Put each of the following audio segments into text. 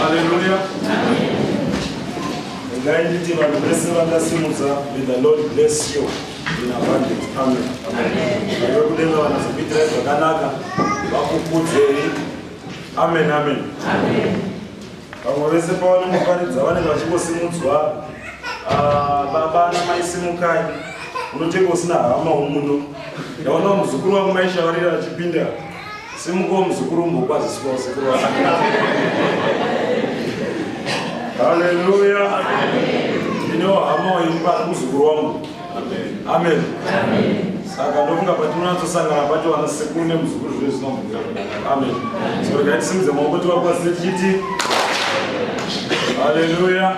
Haleluya. Ngai nditi vanhu vese vakasimudza may the Lord bless you in abundance. Amen. Amen. Vekudenga vanazokuitirai zvakanaka vakukudzei. Amen. Amen. Amen. Vamwe vese pavanenge paridza vanenge vachingosimudzwa ah, baba namai simukai unotenge usina hama umuno ndaona muzukuru wangu maishavarira achipinda Simukawo muzukuru umbokwaziswa usiku rwako. Hallelujah. Ndino hama waimba muzukuru wangu. Amen. Saka ndofunga patinonyatsosangana pacho vana sekuru nemuzukuru zvine zvinobvira. Amen. So regai tisimudze maoko tivakwazise tichiti Hallelujah.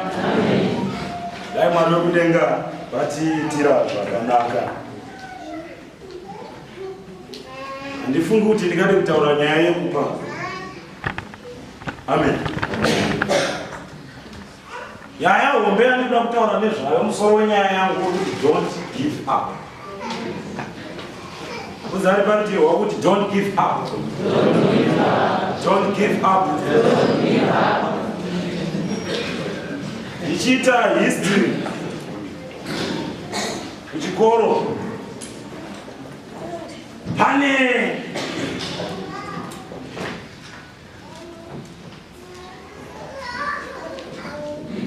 Dai Mwari wekudenga vatiitira zvakanaka. handifungi kuti ndingade kutaura nyaya yekupa amen nyaya hombe yandinoda kutaura nezvayo musoro wenyaya yangu wekuti don't give up kuzari parutivi wakuti don't give up don't give up ndichiita history Kuchikoro pane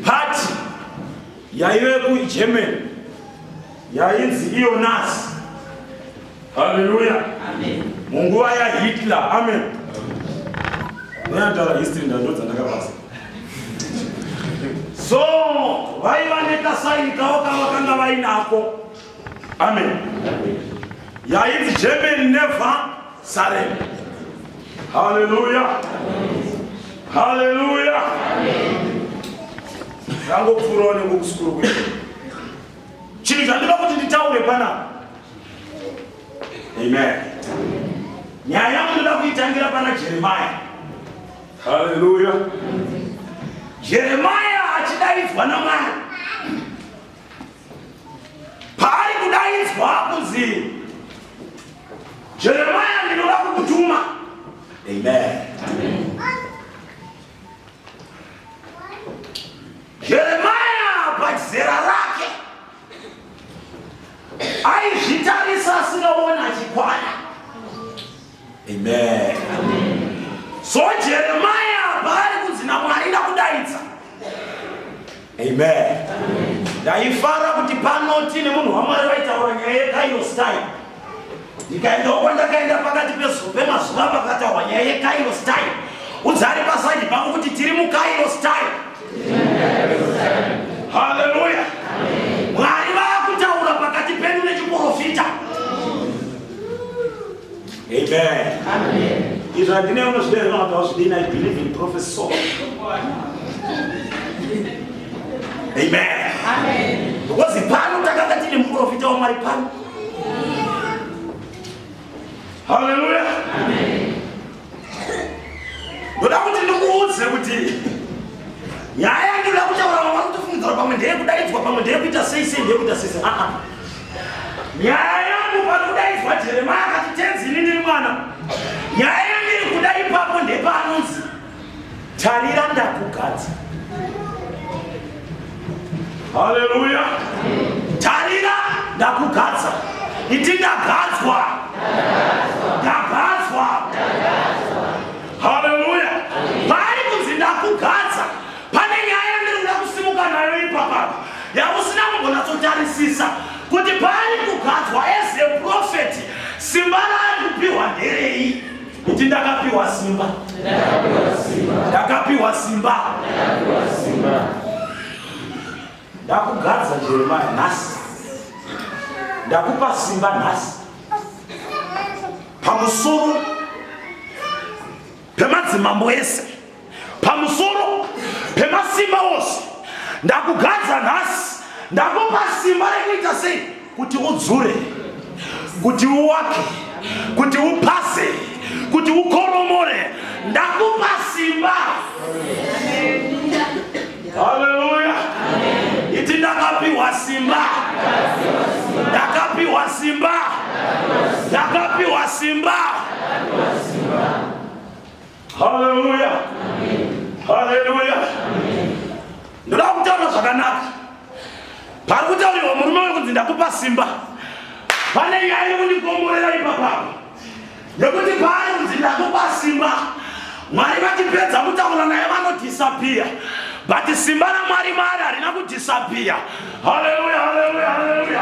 pati yaive kuGermany yainzi iyonasi Haleluya. Amen. Munguva ya Hitler. Amen. Ndatara history ndandodza ndakabasa. So vaiva nekasaini kavo kavakanga vainako. Amen. Yainzi German never surrender. Haleluya. Haleluya. Amen. Zangopfurawo nekukusukurwa. chinhu chandinoda kuti nditaure panapa amen nyaya yangu ndoda kuitangira pana jeremaya haleluya jeremaya achidaidzwa namwari paari kudaidzwa kunzi jeremaya ndinoda kukutuma amen, amen. Jeremia pazera rake aizvitarisa asinoona achikwana. Amen. So Jeremia paari kunzi naMwari ndakudaidza. Amen. Ndaifara kuti panoti nemunhu waMwari vaitaura nyaya yekairos time ndikaendawo kwandakaenda pakati pezuva pemazuva pakataurwa nyaya yekairo style udzari pasaidi pangu kuti tiri mukairo style haleluya mwari vakutaura pakati pedu nechiprofita amen izvi handine unozviderera kuti wazvidini i believe in prophecy so amen because pano takanga tine muprofita wamwari pano Haleluya. Amen. Ndoda kuti ndikuudze kuti nyaya yandoda kutaura vamwe vakutofungidzira pamwe ndeye kudaidzwa pamwe ndeye kuita sei sei ndeye kuita sei sei. Ah, ah. Nyaya yangu pari kudaidzwa Jeremia akati tenzi ini ndiri mwana. Nyaya yangu iri kuda ipapo ndepanonzi Tarira ndakugadza. Haleluya. Tarira ndakugadza. Iti ndagadzwa. Ndagadzwa. Haleluya. Paari kunzi ndakugadza pane nyaya yandiri kuda kusimuka nayo ipapa yausina kumbonatsotarisisa kuti paari kugadzwa as a prophet simba raari kupiwa nderei Iti ndakapiwa simba. Ndakapiwa simba. Ndakugadza Jeremiah nhasi. Ndakupa simba nhasi. Pamusoro pemadzimambo ese. pamusoro pemasimba ose ndakugadza nhasi ndakupa simba rekuita sei kuti udzure kuti uwake kuti upase kuti ukoromore ndakupa simba haleluya iti ndakapiwa simba ndakapiwa simba ndakapiwa simba Haleluya. Haleluya. Ndoda kutaura zvakanaka. Pari kutauriwa murume wekunzi ndakupa simba. Pane nyaya iri kundikomborera ipapa. Nekuti paari kunzi ndakupa simba. Mwari vachipedza kutaura naye vanodhisapiya. But simba raMwari Mwari harina kudhisapiya. Haleluya, haleluya, haleluya.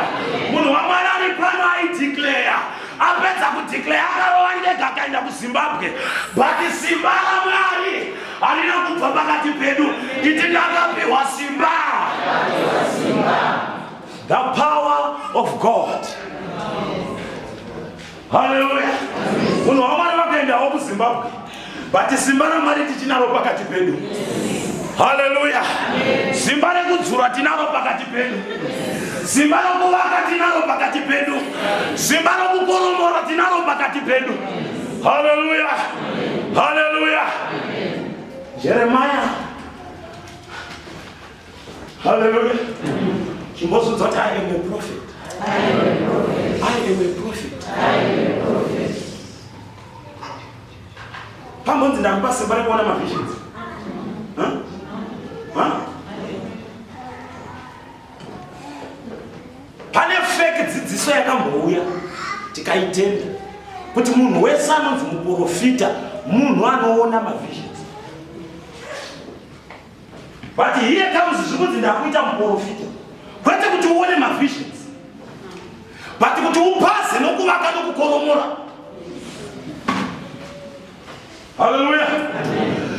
Munhu waMwari ari pano aidhikleya. apedza kudeclare akarova ndega akaenda kuzimbabwe but simba ramwari harina kubva pakati pedu iti ndakapiwa simba the power of god haleluya munhu wamwari vakaendawo kuzimbabwe but simba ramwari tichinaro pakati pedu haleluya simba rekudzura tinaro pakati pedu simba rokuvaka tinaro pakati pedu simba rokukoromora tinaro pakati pedu haleluya haleluya jeremaya haleluya chimbozudza kuti i am a prophet i am a prophet pambonzi ndakupa simba rekuona mavisions pane fake dzidziso yakambouya tikaitenda kuti munhu wese anonzi muprofita munhu anoona mavisions But here comes zvikunzi ndakuita muporofita kwete kuti uone mavisions but kuti upaze nokuvaka nokukoromora haleluya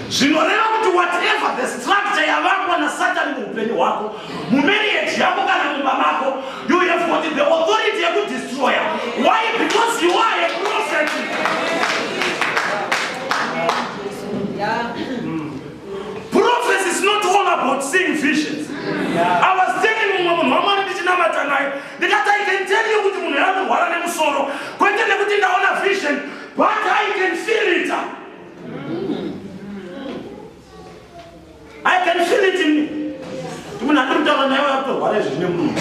zvinoreva kuti whatever the structure yavakwa nasatani muupenyu hwako mumarriage yako kana mumba mako you have got the authority yekudestroya why because you are a prophet yeah. Prophecy is not all about seeing visions. Yeah. I was telling mumwe munhu wamwari ndichinamata naye ndikati I can tell you kuti munhu yakurwara nemusoro kwete nekuti ndaona vision but I can feel it. I can feel it in me. Munhu andiri kutaura naye wakutorwara izvi zvine munhu.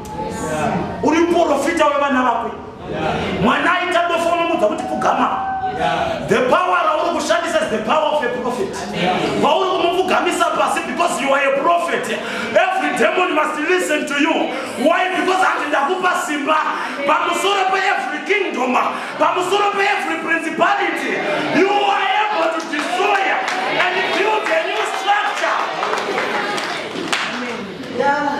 uri muporofita wevana vako mwana aita dofo unomudza kuti pfugama the power rauri kushandisa is the power of a prophet kwauri kumupfugamisa pasi because you are a prophet every demon must listen to you why because ati ndakupa simba pamusoro peevery kingdom pamusoro peevery principality you are able to destroy and build a new structure yeah.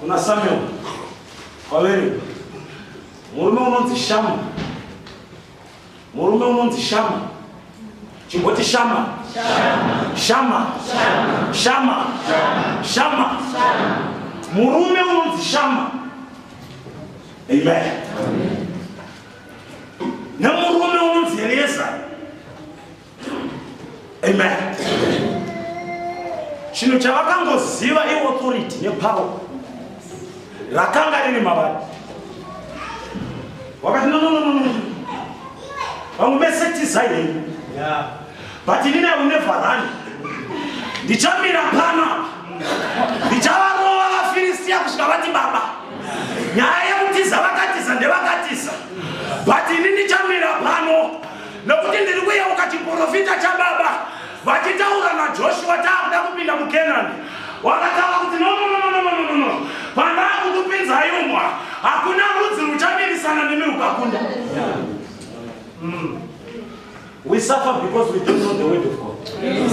Kuna Samuel kwavere murume unonzi Shama, murume unonzi Shama, chimboti Shama, Shama, Shama, Shama, murume unonzi Shama. Amen. Nemurume unonzi Eliezeri amen chinhu chavakangoziva iauthority nepower rakanga riri mavari wakati nonononono vamwe vese tizai henyu but inini i will never run ndichamira pano ndichavarova vafiristiya kusvika vati baba nyaya yekutiza vakatiza ndevakatiza but ini ndichamira pano nokuti ndiri kuyeuka chiprofita chababa vachitaura najoshua taakuda kupinda mukenani wakataura kuti nononononononono pandaakukupinzai umwa hakuna rudzi ruchamirisana nemi rukakunda mm. we suffer because we don't know the word of god yes.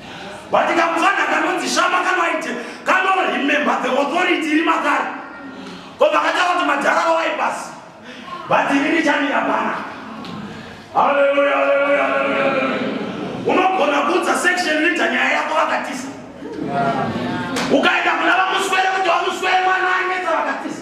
but kamwana kanonzi shama kanoite kanoremember the authority iri makare ko vakataura kuti madhara vawai pasi but ini ndichamira pana haleluya haleluya haleluya unogona kuudza section leader nyaya yako vakatisa ukaenda kuna vamuswere kuti vamuswere mwana anetsa vakatisa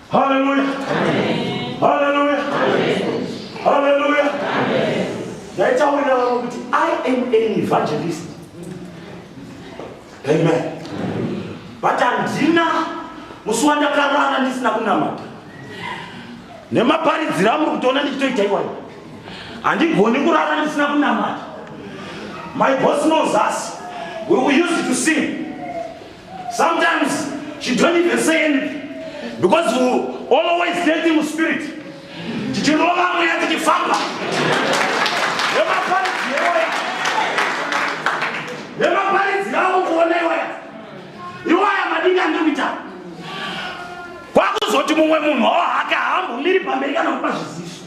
Haleluya. Haleluya. Haleluya. Ndaitaurira vamwe kuti I am an evangelist. Amen. But handina musi wandakarara ndisina kunamata. Nemaparidziro amuri kutoona ndichitoita iwayo. Handigoni kurara ndisina kunamata. My boss knows us. We will use it to sing. Sometimes she don't even say anything because you always dating with spirit. Tichirova mweya tichifamba. Yemaparidzi yewoya. Yemaparidzi yawo kuona iwaya. Iwaya madinga ndikuita. Kwakuzoti mumwe munhu wawo hake haambomiri pamberi kana kupa zviziso.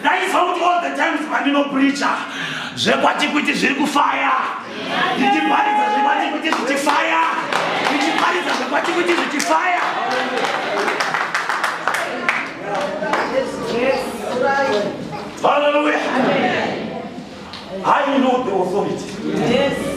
ndaizwa kuti all the times pandinopricha zvekwatikuti zviri kufaya ndichiparidza zvekwatikuti zvichifaya ndichiparidza zvekwatikuti zvichifaya Hallelujah. I know the authority. Yes.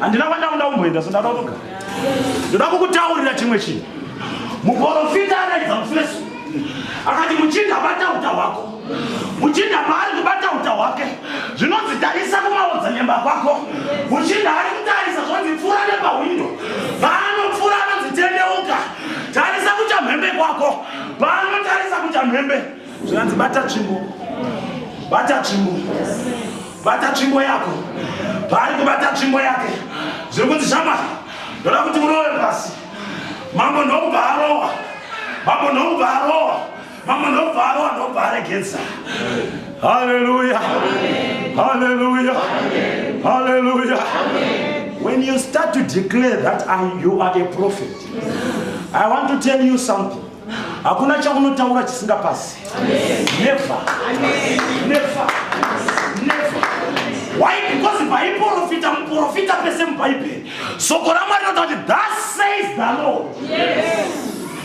handina kwandakuda kumboenda so ndada kutogara ndoda kukutaurira chimwe chinhu muporofita araidza mufeso akati muchinda bata uta hwako muchinda paari kubata uta hwake zvinonzi tarisa kumaodza nyemba kwako muchinda ari kutarisa zvonzi pfuura nepahwindo tarisa kuchamhembe kwako pano tarisa kuchamhembe zvinanzi bata tsvimbo bata tsvimbo bata tsvimbo yako paari kubata tsvimbo yake zviri kunzi shamwari ndoda kuti murove pasi mambo ndokuba arowa mambo ndokuba arowa Mama ndobva arova ndobva aregedza. Hallelujah. Hallelujah. Hallelujah. When you start to declare that I, you are a prophet, I want to tell you something. Hakuna chaunotaura chisingapasi. Never. Never. Never. Why? Because paiprofita muprofita pese mubhaibheri soko ramwari rinoti that says the lord yes.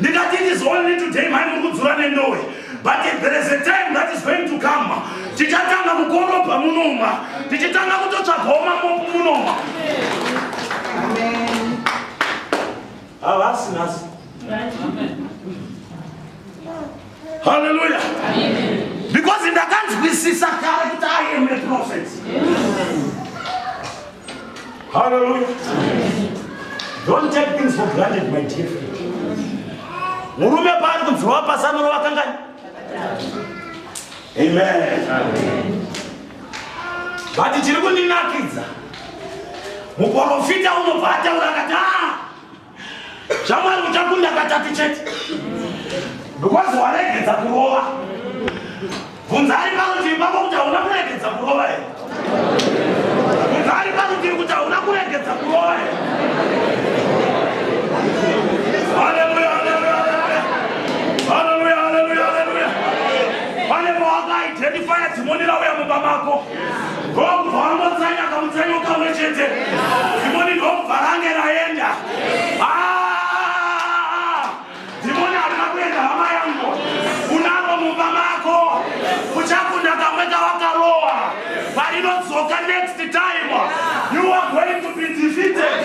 ndikati it is only today mhai muri kudzura nendowe but there is a time that is going to come tichatanga kukorobha munoma tichitanga kutotsvagawo mamopu munoma havasi nhasi Hallelujah. Amen. Because in the country we see character I am a prophet. Hallelujah. Amen. Don't take things for granted, my dear friend. Murume paari kunzwa pasano rovakangani. Amen. Amen. But chiri kundinakidza. Muporofita unobva ataura akati ah Shamwari uchakunda katatu chete. Because waregedza kurova. Bvunzai parutivi pako kuti hauna kuregedza kurova here? Bvunzai parutivi kuti hauna kuregedza kurova here? Haleluya, haleluya, haleluya. Haleluya, haleluya, haleluya. Pane mawaka identify dzimoni rauya mumba mako. ndobva angotsanya kamutsanya ukamwe chete ndimoni ndobva range raenda ah! ndimoni arina kuenda hama yangu unaro mumba mako uchakunda kamwe kawakarowa parinodzoka next time you are going to be defeated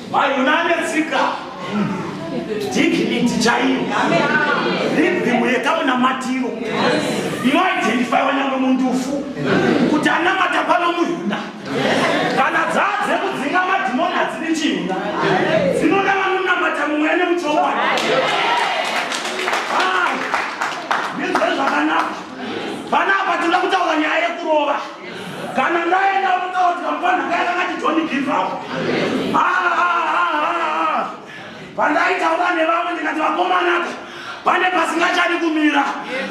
Vaigona ane tsika dignity chaiyo ribhimu yekamunamatiro inoidentifaiwa nyangwe mundufu kuti anamata pano muhina kana dzaa dzekudzinga madhimoni hadzidi chihina dzinoda vanonamata mumweya nemuchokwadi ah, nezvezvakanaka panapa toda kutaura nyaya yekurova kana ndaenda unotaurwa mpanhanga yakangati john give up pandaitaura nevamwe ndikati vakomanaka pane pasingachadi kumira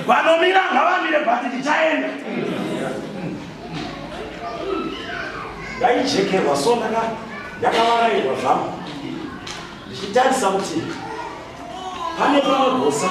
vanomira ngavamire bati ndichaenda ndaijekerwa so ndaka ndakavarairwa zvangu ndichitarisa kuti pane panogosa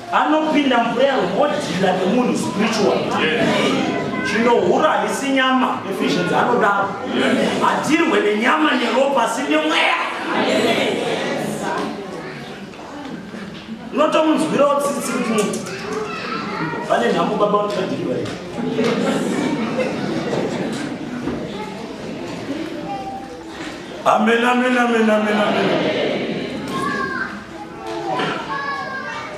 anopinda mvura yarwodhila nemunhu spiritual chinohura haisi nyama efficiency anodaro hatirwe nenyama neropa asi nemweya unotomunzwirawo tsitsi kuti munhu vane nhamo baba utikadiriva ii amen amen amen amen amen, amen.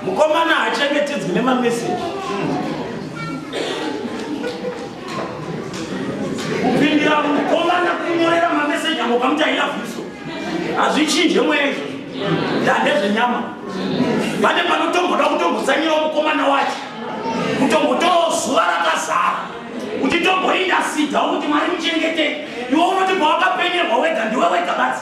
mukomana hachengetedzwi nemameseji kupindira mukomana kunyorera mameseji ango kamuti ailavhiso hazvichinje mweya izvo ndandezvenyama pane panotomboda kutombotsanyirawo mukomana wacho kutombotorawo zuva rakazara uchitomboinda sidha kuti mwari muchengete iwo unoti pawakapenyerwa wega ndiwe wega basi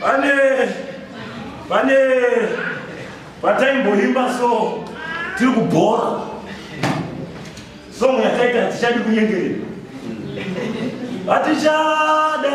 Pane pane pataimboimba so tiri kubhora song yataita hatichadi kunyengerera hatichada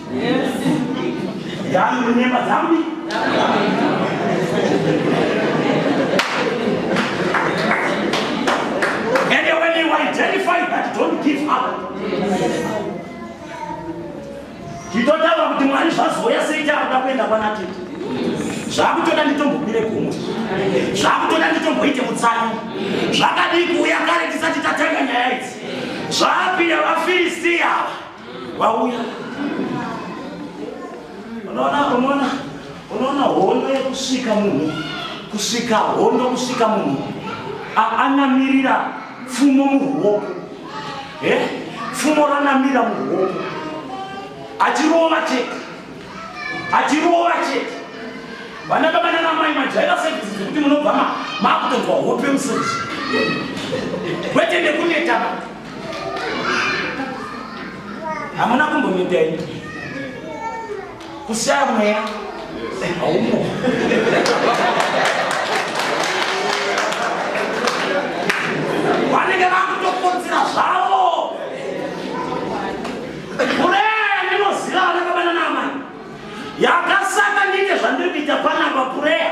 Dzangu nyemba dzangu. And when you identify that, don't give up. Chitotaura kuti Mwari zvazouya sei takuda kuenda kwana tete. Zvakutoda nditombokwire gomwe. Zvakutoda nditomboite mutsanyi. Zvakadii kuuya kare tisati tatanga nyaya idzi. Zvapira vaFiristia. vauya unoona unoona unoona hondo yekusvika munhu kusvika hondo kusvika munhu anamirira pfumo muruoko pfumo ranamira muruoko achirova chete achirova chete vana baba nana mai majaira sevisi dzekuti munobva makutonzwa hope musodzi kwete nekunetaba hamuna kumbomita ini kushaya mweya haumo vanenge vakutokonzera zvavo pureya ndinoziva vanakabanana amai yakasaka ndiite zvandiri kuita panapa pureya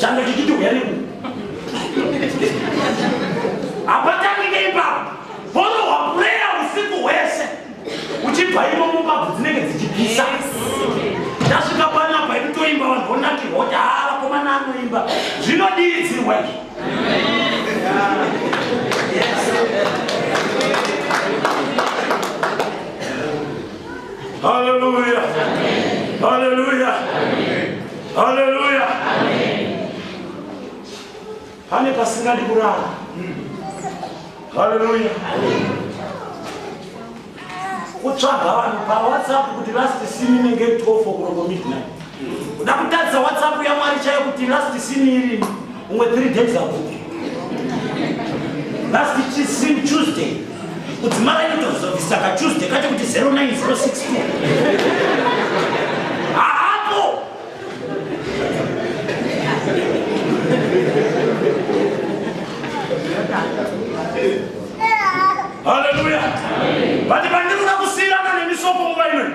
changa chichiti uyani ku hapatangike ipapo vorohwa pureya usiku hwese uchibva imo mumbabvu dzinenge dzichipisa ndasvika panapa iri toimba vanhu vonakirwa kuti haa ah, vakomana anoimba zvinodiridzirwa izvi Hallelujah. Hallelujah. Haleluya. Pane pasingadi kurara. Haleluya. Kutsvaga vanhu paWhatsApp kuti last scene inenge 12 o'clock midnight. Kuda kutadza WhatsApp yaMwari chaiyo kuti last scene iri umwe 3 days ago. Last scene Tuesday. kudzimaraini tozobvisa katuesday kacho kuti 09062 haapo haleluya vati pandiri kuda kusiyirana nemisoko nguva imweni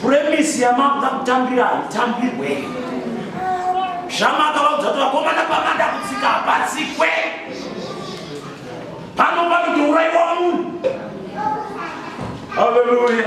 puremisi yamakuda kutambira haitambirwe zvamakavaudza kuti vakomana pamada kutsika hapatsikwe pano panoti uraiwa munhu haleluya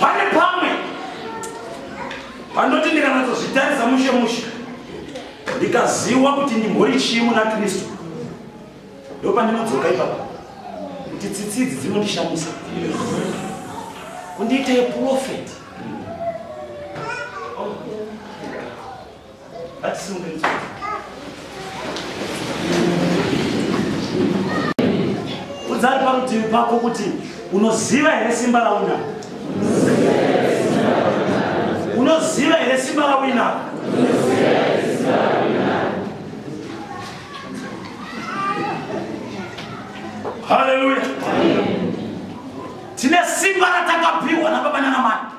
pane pamwe pandoti ndikanatozvitarisa mushe mushe ndikaziwa kuti ndimbori chii muna kristu ndo pandinodzoka ipapa kuti tsitsi idzi dzinondishamisa kundiita yeprofeti Udzari parutivi pako kuti unoziva here simba rauna? Unoziva here simba rawina? Hallelujah. Tine simba ratakapiwa na baba nana mai.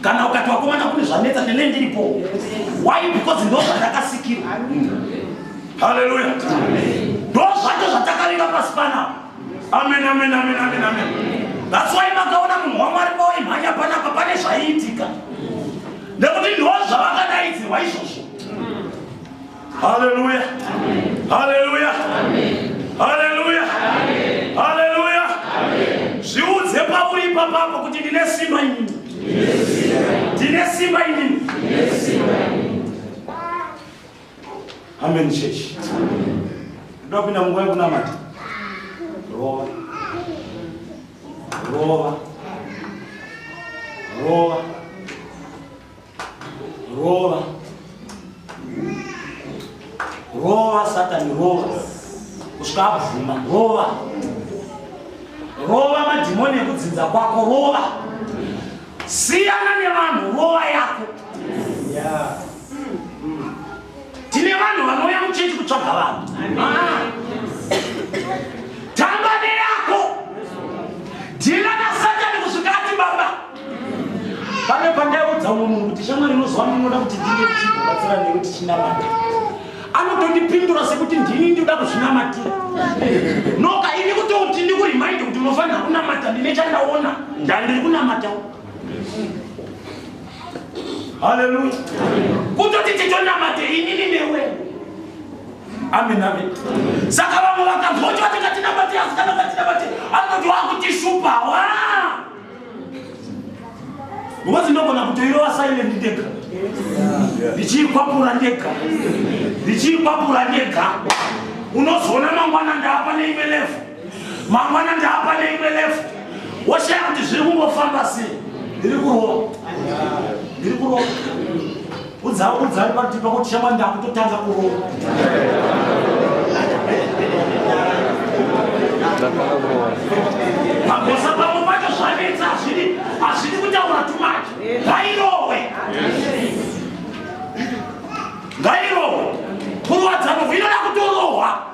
kana ukati wakomana kune zvanetsa nene ndiripo why because ndo zvandakasikirwa haleluya ndo zvacho zvatakarira pasi panapa amen amen amen amen amen that's why makaona munhu wamwari pawaimhanya panapa pane zvaiitika nekuti ndo zvavakadaidzirwa izvozvo Haleluya. Haleluya. Haleluya. Haleluya. Zviudze pauri ipapapo kuti ndine simba ini. Ndine simba ini. Amen church. Ndio kuna Mungu wangu na mati. Roa. Roa. Roa. Rova. Rova Satan rova. Kusvika abvuma rova. Rova madhimoni ekudzinza kwako rova. Siyana nevanhu rova yako. Yeah. Mm. Tine vanhu vanouya muchechi kutsvaga vanhu. Ah. Tamba neyako. Yes, pane pandaiudza umwe munhu kuti shamwari inoziva ndinoda kuti ndinge tichibatsira newe tichinamata anotondipindura sekuti ndini ndioda kuzvinamatira noka ini kutouti ndikurimind kuti unofanira kunamata ndine chandaona ndandiri kunamatawo haleluya kutoti titonamate inini newe amen amen saka vamwe vakambocho vatingatinamate asikana vatinamate anoti wakutishupa waa Ngozi ndogona kutoirova silent ndega. Ndichiikwapura ndega. Ndichiikwapura ndega. Unozoona mangwana ndaapa neimwe lefu. Mangwana ndaapa neimwe lefu. Woshaya kuti zviri kungofamba sei. Ndiri kurova. Ndiri kurova. Udzawo udzani pakuti pakuti shama ndakutotanga kurowa. Magosa pamwe pacho zvanetsa hazvidi hazvidi kutaura too much. Ngairohwe. Ngairohwe. Kurwadza munhu inoda kutorohwa.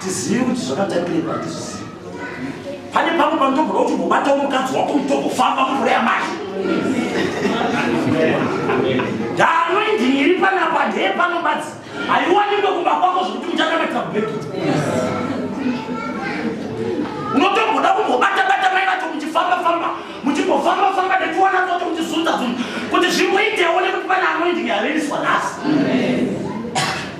tizivi kuti zvakatangira ipa tizvizivi pane pamwe panotogona kuti mubatawo mukadzi wako mutogofamba mukure yamai danoindhiiri panapa ndee panobadzi haiwanikwe kumba kwako zvekuti muchakamatira kubheki unotomboda kumbobata bata mai vacho muchifamba famba muchimbofamba famba nekuona kuti muchizunza zunhu kuti zvimboitewo nekuti pane anoindhiiri averiswa nhasi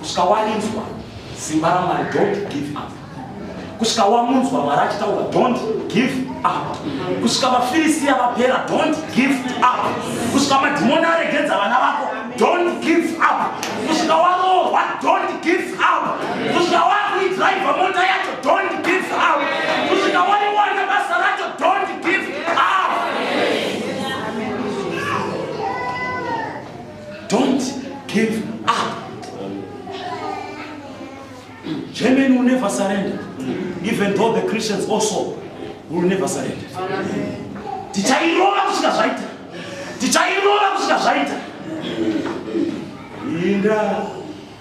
kusvika warinzwa simba ramwari don't give up kusvika wamunzwa mwari achitaura don't give up kusvika vafirisiya vapera don't give up kusvika madhimoni aregedza vana vako don't give up kusvika waroorwa don't give up kusvika wakuidriva mota yacho don't give up kusvika waiwana basa racho don't give up Don't give up. Germany will never surrender. Even though the Christians also will never surrender. Tichairova kusvika zvaita. Tichairova kusvika zvaita. Inda.